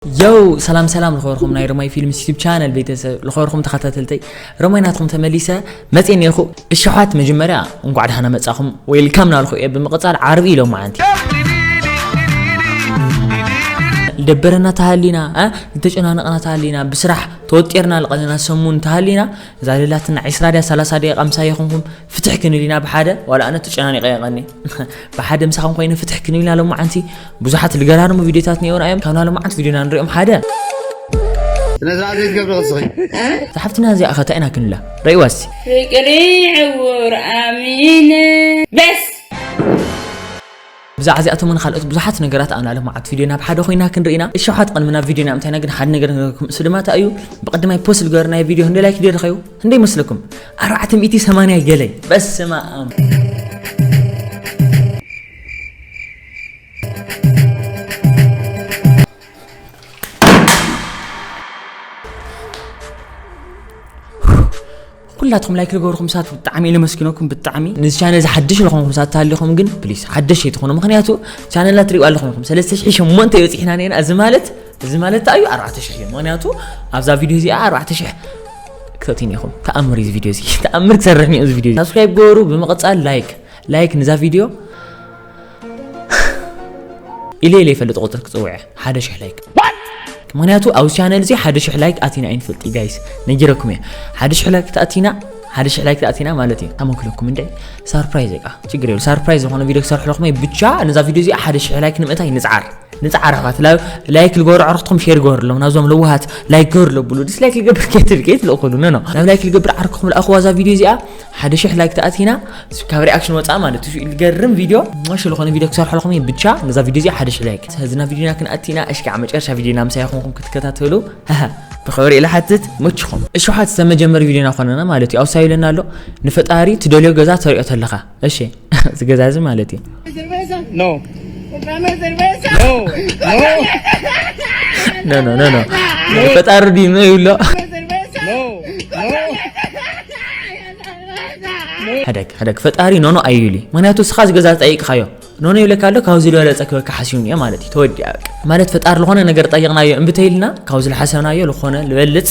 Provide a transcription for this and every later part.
ዮው ሰላም ሰላም ልኸበርኩም ናይ ረማይ ፊልምስ ዩቱብ ቻነል ቤተሰብ ልኸበርኩም ተኸታተልተይ ረማይ ናትኩም ተመሊሰ መፅእ ኔኹ እሸሓት መጀመርያ እንኳዕ ድሃና መፃኹም ዌልካም ናልኹ እየ ብምቕፃል ዓርቢ ኢሎም መዓንቲ ደበረና ተሃሊና ዝተጨናነቕና ተሃሊና ብስራሕ ተወጢርና ልቐለና ሰሙን ተሃሊና እዛ ልላትና 20 ድያ 30 ደቂቃ ምሳይ ይኹንኩም ፍትሕ ክንል ኢና ብሓደ ዋላ ኣነ ተጨናኒቐ የቐኒ ብሓደ ምሳኹም ኮይኑ ፍትሕ ክንብልና ሎማዓንቲ ብዙሓት ልገራርሙ ቪድዮታት ነይሩና እዮም ካብና ሎማዓንቲ ቪድዮና ንሪኦም ሓደ ስለዛ እዚ ትገብሪ ቅስኺ እዛ ሓፍትና እዚኣ ኸ እንታይ ኢና ክንብላ ረእይዋ እስቲ ፍቅሪ ዕውር ኣሚነ በስ ብዛዕባ እዚኣቶምን ካልኦት ብዙሓት ነገራት ኣብና ልምዓት ቪድዮ ናብ ሓደ ኮይና ክንርኢና እሸውሓት ቅድሚ ናብ ቪድዮ ናብ እንታይና ግን ሓደ ነገር ነገርኩም እሱ ድማ እንታይ እዩ ብቅድማይ ፖስት ዝገበርናዮ ቪድዮ ክንደይ ላይክ ደይረኸዩ ክንደይ ይመስለኩም ኣርባዕተ ሚእቲ ሰማንያ ገለ በስመኣም። ኩላትኩም ላይክ ዝገበርኩም ሳት ብጣዕሚ ኢለ መስኪነኩም ብጣዕሚ ነዚ ቻነል እዚ ሓድሽ ዝኾንኩም ሳት ተሃሊኹም ግን ፕሊስ ሓደሽ ኣይትኾኑ ምክንያቱ ቻነልና ትሪኡ ኣለኹም ኢኹም ሰለስተ ሽሕ ሸሞንተ በፂሕና ነና እዚ ማለት እዚ ማለት እንታይ እዩ ኣርባዕተ ሽሕ እዩ ምክንያቱ ኣብዛ ቪድዮ እዚኣ ኣርባዕተ ሽሕ ክትፈትዩኒ ኢኹም ተኣምር እዩ እዚ ቪድዮ እዚ ተኣምር ክሰርሕ እኒኦ እዚ ቪድዮ ሳብስክራይብ ገበሩ ብምቕፃል ላይክ ላይክ ንዛ ቪድዮ ኢለ ኢለ ይፈልጥ ቁፅር ክፅውዐ ሓደ ሽሕ ላይክ ምክንያቱ ኣብዚ ቻነል እዚ ሓደ ሽሕ ላይክ ኣቲና ኣይንፈልጥ እዩ ጋይስ ነጊረኩም እየ ሓደ ሽሕ ላይክ ተኣቲና ሓደ ሽሕ ላይክ ተኣቲና ማለት እዩ ኣመክለኩም እንደ ሳርፕራይዝ እቃ ችግር የብሉ ሳርፕራይዝ ዝኾነ ቪድዮ ክሰርሕለኹም እየ ብቻ ነዛ ቪድዮ እዚኣ ሓደ ሽሕ ላይክ ንምእታይ ንፅዓር ንጻዕራፋት ላ- ላይክ ልገብሩ ዓርኽትኩም ሼር ገበርሎም ናብዞም ለዋሃት ላይክ ገበሩ ለብሉ ዲስላይክ ልገብር ከትል ከይትልእኹሉ ኖ ኖ ናብ ላይክ ልገብር ዓርክኹም ልኣኽዋ እዛ ቪድዮ እዚኣ ሓደ ሽሕ ላይክ ተኣቲና ካብ ሪኣክሽን ወፃእ ማለት እዩ ልገርም ቪድዮ ማሽ ዝኾነ ቪድዮ ክሰርሐልኹም እዩ ብቻ ነዛ ቪድዮ እዚኣ ሓደ ሽሕ ላይክ ስለዚ ናብ ቪድዮና ክንኣቲና እሽ ከዓ መጨረሻ ቪድዮና ምሳይ ኹንኩም ክትከታተሉ ሃሃ ብኽብሪ ኢለ ሓትት መችኹም እሸውሓት ዝተመጀመሪ ቪድዮና ኮነና ማለት እዩ ኣውሳዩ ኢለና ኣሎ ንፈጣሪ ትደልዮ ገዛ ተሪኦ ተለኻ እሺ እዚ ገዛ እዚ ማለት እዩ ኖ ኖ ኖ ኖ ኖ ፈጣሪ ድዩ ኖ ይብሎ ሕደግ ሕደግ ፈጣሪ ኖኖ ኣዩሊ ምክንያቱ እስኻ እዚ ገዛ ጠይቅኻዮ ኖኖ ይብለካ ኣሎ ካብዚ ዝበለፀ ክበካ ሓስዩን እዮ ማለት እዩ ተወዲኣ በቃ ማለት ፈጣሪ ዝኾነ ነገር ጠይቕናዮ እምብተይልና ካብዚ ዝሓሰብናዮ ዝኾነ ዝበልፅ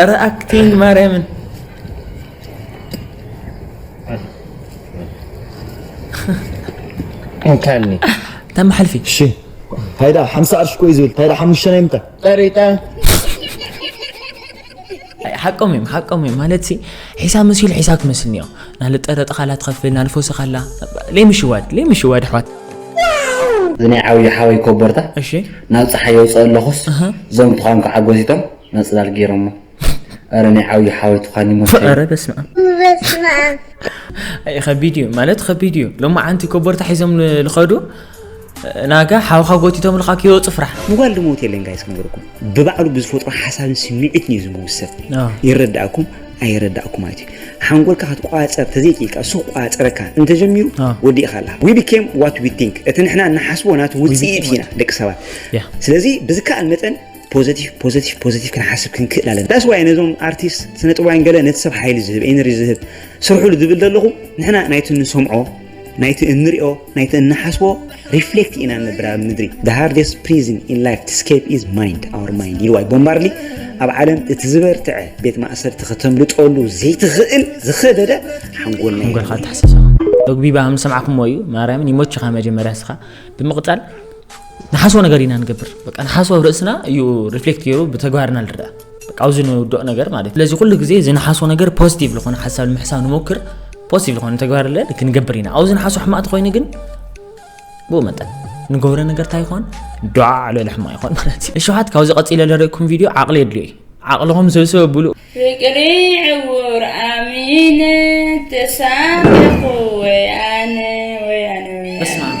ኧረ ኣክቲንግ ማርያምን እንካኒ ተማሓልፊ እሺ ሃይዳ ሓምሳ ቅርሺ ኮይ ዝብል ሃይዳ ሓሙሽተ ናይ ምንታይ ጠሪጣ ሓቆም እዮም ሓቆም እዮም ማለት ሲ ሒሳብ መሲሉ ሒሳብ ክመስልኒ እዮም ናልጠረጠ ካላ ትኸፍል ናልፈውሲ ካላ ለይምሽዋድ ለይምሽዋድ ኣሕዋት እዚ ናይ ዓብዪ ሓወይ ኮቦርታ እሺ ናብ ፀሓይ የውፅኦ ኣለኹስ እዞም ተዃም ክዓጎሲቶም መጽላል ጌሮሞ ኣረ ናይ ዓብዩ ሓወይ ትዃኒ ሞት ኣረ በስመ ኣም በስመ ኣም ኣይ ከቢድ እዩ ማለት ከቢድ እዩ ሎማ ዓንቲ ኮቦርታ ሒዞም ልኸዱ ናጋ ሓውኻ ጎቲቶም ልካ ክወፁ ፍራሕ ምጓል ድሞት የለን ጋይስ ክንገርኩም ብባዕሉ ብዝፈጥሮ ሓሳብን ስምዒትን እዩ ዝምውሰብ ይረዳእኩም ኣይረዳእኩም ማለት እዩ ሓንጎልካ ክትቋፀር ተዘይክኢልካ እሱ ክቋፀረካ እንተጀሚሩ ወዲእኻ ኣላ ዊ ቢኬም ዋት ዊ ቲንክ እቲ ንሕና ንሓስቦ ናቲ ውፅኢት ኢና ደቂ ሰባት ስለዚ ብዝከኣል መጠን ፖዘቲቭ ፖዘቲቭ ፖዘቲቭ ክንሓስብ ክንክእል ኣለና ዳስ ዋይ ነዞም ኣርቲስት ስነ ጥበባውያን ገለ ነቲ ሰብ ሓይሊ ዝህብ ኤነርጂ ዝህብ ስርሑሉ ዝብል ዘለኹ ንሕና ናይቲ ንሰምዖ ናይቲ እንሪኦ ናይቲ እንሓስቦ ሪፍሌክት ኢና ንነብር ኣብ ምድሪ the hardest prison in life to escape is mind our mind ኢልዋይ ቦምባርሊ ኣብ ዓለም እቲ ዝበርትዐ ቤት ማእሰርቲ ከተምልጠሉ ዘይትኽእል ዝኸበደ ሓንጎልና ሓንጎልካ ተሓሳሰኻ ዶግቢባ ምስ ሰማዕኩሞ እዩ ማርያምን ይሞችኻ መጀመርያ ስኻ ብምቕፃል ንሓስቦ ነገር ኢና ንገብር በቃ ንሓስቦ ኣብ ርእስና እዩ ሪፍሌክት ገይሩ ብተግባርና ንርዳእ በቃ ኣብዚ ንውድቕ ነገር ማለት ስለዚ ኩሉ ግዜ እዚ ንሓስቦ ነገር ፖዚቲቭ ዝኾነ ሓሳብ ንምሕሳብ ንሞክር ፖዚቲቭ ዝኾነ ተግባር ለ ክንገብር ኢና ኣብዚ ንሓስቦ ሕማቅ ተኮይኑ ግን ብኡ መጠን ንገብረ ነገር እንታይ ይኾን ዱዓ ዕለል ሕማቅ ይኾን ማለት እዩ እሸውሓት ካብዚ ቀፂለ ለርእኩም ቪድዮ ዓቕሊ የድልዮ እዩ ዓቕልኹም ሰብሰብ ብሉ ፍቅሪ ዕውር ኣሚነ ተሳሚኹ ወያነ ወያነ ወያነ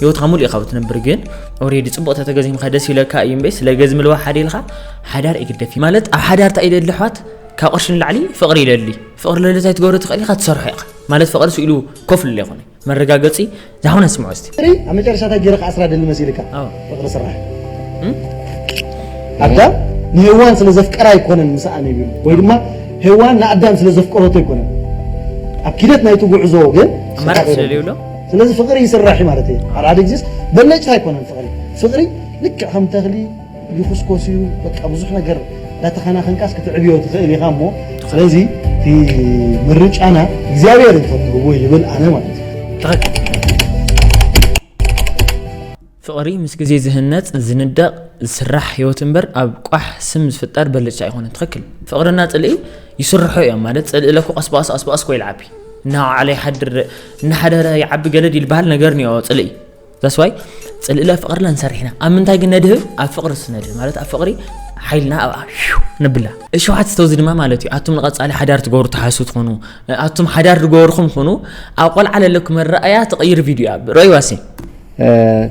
ሂወትካ ሙሉእ ኢካ ብትነብር ግን ኦሬዲ ጽቡቅ ተተገዚምካ ደስ ይብለካ እዩ እምበይ ስለ ገዝ ምልዋ ሓደ ኢልካ ሓዳር ይግደፍ ማለት ኣብ ሓዳር እንታይ ይደሊ ኣሕዋት ካብ ቅርሺ ንላዕሊ ፍቅሪ ይደሊ ፍቅሪ ለሊ እንታይ ትገብሮ ትኽእል ኢካ ትሰርሖ ኢካ ማለት ፍቅሪ ስኢሉ ኮፍ ኢሉ ኣይኮነ መረጋገጺ ዛሁን ኣስምዖ እስቲ ኣብ መጨረሻ እንታይ ገይርካ ኣስራ ደሊ መሲልካ ፍቅሪ ስራሕ ኣዳም ንሄዋን ስለ ዘፍቀራ ኣይኮነን ምስኣ ነቢሉ ወይ ድማ ሄዋን ንኣዳም ስለ ዘፍቀረቶ ኣይኮነን ኣብ ኪደት ናይቲ ጉዕዞ ግን ኣማራጭ ስለለይብሎ ስለዚ ፍቅሪ ይስራሕ እዩ ማለት እየ ሓደ ሓደ ግዜስ በለጭታ ኣይኮነን ፍቅሪ ፍቅሪ ልክዕ ከም ተክሊ ይኹስኮስ እዩ በቃ ብዙሕ ነገር እንዳተኸናኸንካስ ክትዕብዮ ትኽእል ኢኻ እሞ ስለዚ እቲ ምርጫና እግዚኣብሔር እዩ ከም ዝህቦ ይብል ኣነ ማለት እዩ ፍቕሪ ምስ ግዜ ዝህነጽ፣ ዝንደቕ፣ ዝስራሕ ህይወት እምበር ኣብ ቋሕ ስም ዝፍጠር ብልጭታ ኣይኮነን። ትኽክል። ፍቕሪና ጽልኢ ይስርሖ እዮም ማለት ጽልኢ ለኩ ቀስ ብቐስ ኣስ ብቐስ ኮ ይልዓቢ እናወዓለ ይሓድር እናሓደረ ይዓቢ ገደድ ይልበሃል ነገር ኒኦ ጽልኢ ዛስ ዋይ ጽልኢ ለ ፍቕርለ ንሰርሕና ኣብ ምንታይ ግን ነድህብ ኣብ ፍቕሪ ስነድህብ ማለት ኣብ ፍቕሪ ሓይልና ኣብኣ ንብላ እሸውዓት ዝተውዚ ድማ ማለት እዩ ኣቱም ንቐፃሊ ሓዳር ትገብሩ ተሓሱ ትኾኑ ኣቱም ሓዳር ዝገበርኹም ኹኑ ኣብ ቆልዓ ለለኩም መረኣያ ተቐይር ቪድዮ እያ ረይዋሲ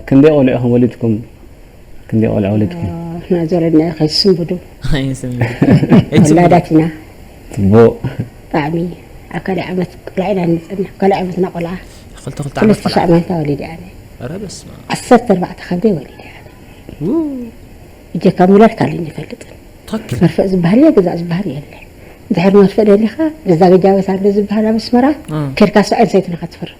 ክንደይ ቆልዑ ኢኩም ወሊድኩም ክንደይ ቆልዑ ወሊድኩም ንሕና ዘረድናዮ ከይስንብዱ ወላዳት ኢና ፅቡቅ ብጣዕሚ ኣብ ካልኣይ ዓመት ቆልዓ ኢና ንፅና ካልኣይ ዓመትና ቆልዓ ክልተ ሻዕ ማንካ ወሊደ ኣነ ዓሰርተ ኣርባዕተ ከብደይ ወሊደ እጀካ ምውላድ ካልእ ይፈልጥን መርፍእ ዝበሃል እየ ግዛእ ዝበሃል የለ ድሕሪ መርፍእ ደሊኻ ነዛ ገጃበት ኣሎ ዝበሃል ኣብ ኣስመራ ከድካ ሰብኣይን ሰይትን ኢኻ ትፈርም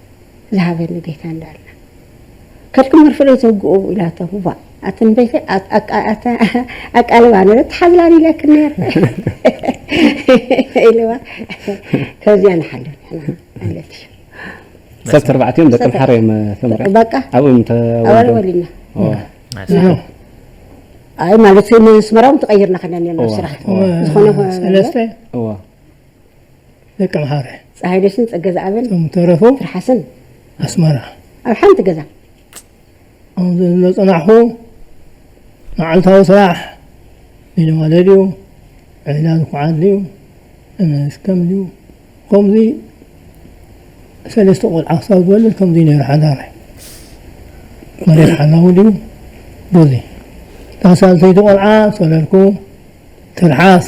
ዝሃበኒ ቤታ እንዳ ኣላ ከድኪ መርፍእ ዘይተውግኡ ኢላቶ ዋእ ኣትንበይተ ኣቃልባ ነረ ትሓዝላን ኢለኪ ነረ ኢልዋ ከዚያ ንሓልፍ ንሕና ኣለትሽ ሰብ ተርባዕቲኦም ደቂ ምሓረ እዮም ተምሪ በቃ ኣብኡ ተወሊድና ኣይ ማለት ንስመራውን ተቀይርና ከና ነና ስራሕ ዝኾነ ሰለስተ ደቂ ኣምሓረ። ጸሃይነሽን ጸገዝኣብን። እቶም ዝተረፉ። ትርሓስን። ኣስመራ። ኣብ ሓንቲ ገዛ። ከም ዘጸናሕኩ መዓልታዊ ስራሕ ቢልዋለድዩ ዒላ ዝኩዓትልዩ እነስከምልዩ ከምዚ ሰለስተ ቆልዓ ክሳብ ዝወልድ ከምዚ ነይሩ ሓዳረይ መሬት ሓላዊ ድዩ ቡዙይ እታ ሳልሰይቲ ቆልዓ ሰለልኩ ትርሓስ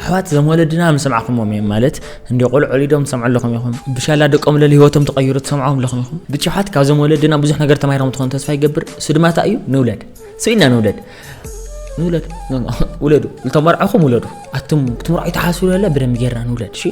ኣሕዋት ዘም ወለድና ምሰማዕኹምዎም እዮም ማለት እንደ ቆልዑ ወሊዶም ትሰምዑ ኣለኹም ኢኹም ብሻላ ደቆም ለሊ ህይወቶም ተቐይሩ ትሰምዖም ኣለኹም ኢኹም ብቻ ኣሕዋት ካብዞም ወለድና ብዙሕ ነገር ተማሂሮም ትኾኑ ተስፋ ይገብር እሱ ድማ እንታይ እዩ ንውለድ ስኢና ንውለድ ንውለድ ውለዱ ልተመርዐኹም ውለዱ ኣቱም ክትምርዑ ይተሓስቡ ለለ ብደንብ ጌርና ንውለድ እሺ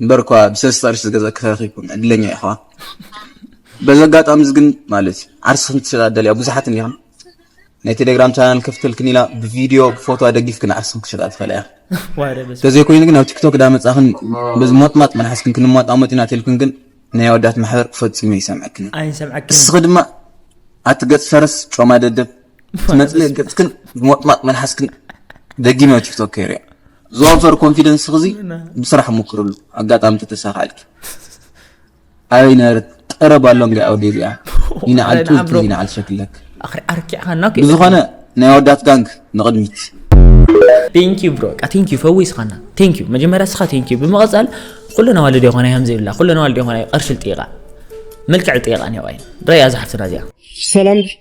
እምበርኳ ብሰለስተ ቅርሺ ዝገዛኪ ተረኺብኩም ዕድለኛ ኢኹ በዚ ኣጋጣሚ እዚ ግን ማለት እዩ ዓርስኽን ትሸጣ ደልያ ብዙሓት እኒኹም ናይ ቴሌግራም ቻናል ከፍተልክን ኢና ብቪድዮ ብፎቶ ኣደጊፍክን ዓርስኽን ክሸጣ ትኽእላ እያ ተዘይኮይኑ ግን ኣብ ቲክቶክ ዳመፃኽን በዚ ሞጥማጥ መናሓዝክን ክንሟጣሞጥ ኢና ተልክን ግን ናይ ኣወዳት ማሕበር ፈፂሙ ይሰምዐክን እስኺ ድማ ኣቲ ገፅ ፈረስ ጮማ ደደብ ትመፅእ ገፅክን ሞጥማጥ መልሓስክን ደጊመ ቲክቶክ ከይርያ ዝወፈር ኮንፊደንስ ክዚ ብስራሕ ሞክርሉ ኣጋጣሚ ተተሳካልኪ ኣበይ ነበረት ጠረብ ኣሎ እንዲ ኣውዲ እዚኣ ይንዓል ጡዝ ይንዓል ሸክለክ ኣርኪዕኻና ብዝኾነ ናይ ወዳት ጋንግ ንቕድሚት ቴንኪዩ ብሮ ቃ ቴንኪዩ ፈዊስኻና ቴንኪዩ መጀመርያ ስኻ ቴንኪዩ ብምቐፃል ኩለን ኣዋልድ ይኾና ከምዚ ይብላ ኩለን ኣዋልድ ይኾና ቅርሽል ጥይቃ መልክዕ ጥይቃ ኒዋይ ረያ ዝሓፍትና እዚኣ ሰላም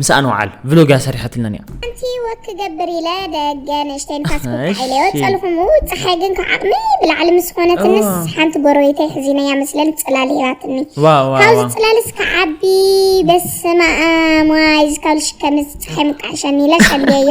ምስኣ ንውዓል ቭሎግ እያ ሰሪሐትልና እያ ሓንቲ ወክ ክገብር ኢለ ደገ ንእሽተይ ንፋስ ክውቃዕ ኢለ ወፀልኹሙ ፀሓይ ግን ካብ ዓቕሚ ብላዕሊ ምስ ዝኾነትንስ ሓንቲ ጎረቤተይ ሕዚነያ መስለል ፅላል ሂባትኒ ካብዚ ፅላልስ ክዓቢ በስመ ኣም ዋይ ዝካሉ ሽከምዚ ፀሓይ ምቃዕሸኒ ኢለ ፀልየዮ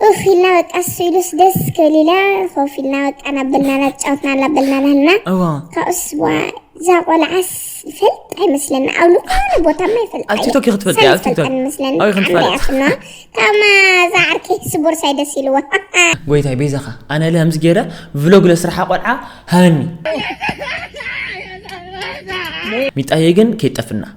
እኽ ኢልና በቃ እሱ ኢሉስ ደስ ክብል ኢላ ኮፍ ኢልና በቃ እናበልናላ ተጫወትና እናበልናላ ህልና እዋ ካብኡስ ዋ እዛ ቆልዓስ ይፈልጥ ኣይመስለና ኣብ ዝኾነ ቦታማ ይፈልጥ ኣብ ቲክቶክ እዩ ክትፈልጥ እያ፣ ኣብ ቲክቶክ። ኣይፈልጠን ይመስለኒ ኣብይ ክንፈልጥ። ብጣዕሚ እያ ስንዋ ካብማ እዛ ዓርኪ ስቦርሳይ ደስ ኢልዋ ጎይታይ ቤዛኻ ኣነ ለ ከምዚ ገይረ ቭሎግ ለስራሓ ቆልዓ ሃበኒ ሚጣየ ግን ከይጠፍና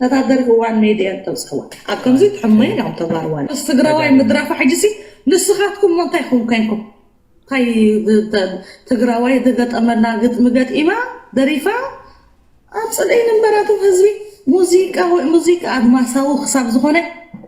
ተጋደል ህዋን ሜድያ እተውጽእዋ ኣብ ከምዚ ትሕመዩ እዮም ተጋርዋን ምስ ትግራዋይ ምድራፋ ሕጂሲ ንስኻትኩም እሞ እንታይ ኹም ኮይንኩም እንታይ ትግራዋይ ዝገጠመላ ግጥሚ ገጢማ ደሪፋ ኣብ ጽልኢ ንበራቶም ህዝቢ ሙዚቃ ሙዚቃ ኣድማሳዊ ክሳብ ዝኾነ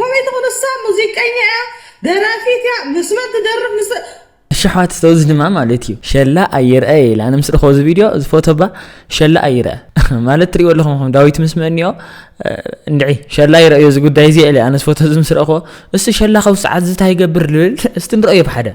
ኮሜዲ ክንሳ ሙዚቀኛ እያ ደራፊት እያ ምስ መን ትደርፍ ምስ እሺ ኣሕዋት እስተ እዚ ድማ ማለት እዩ ሸላ ኣይርአ እየ ኢለ ኣነ ምስ ረኸቦ እዚ ቪድዮ እዚ ፎቶ ባ ሸላ ኣይርአ ማለት ትሪእዎ ኣለኹም ኹም ዳዊት ምስ መኒኦ እንድዒ ሸላ ይረአዮ እዚ ጉዳይ እዚ እለ ኣነ እዚ ፎቶ እዚ ምስ ረኸቦ እስቲ ሸላ ከብ ሰዓት ዝታ ይገብር ልብል እስቲ ንረአዮ ብሓደ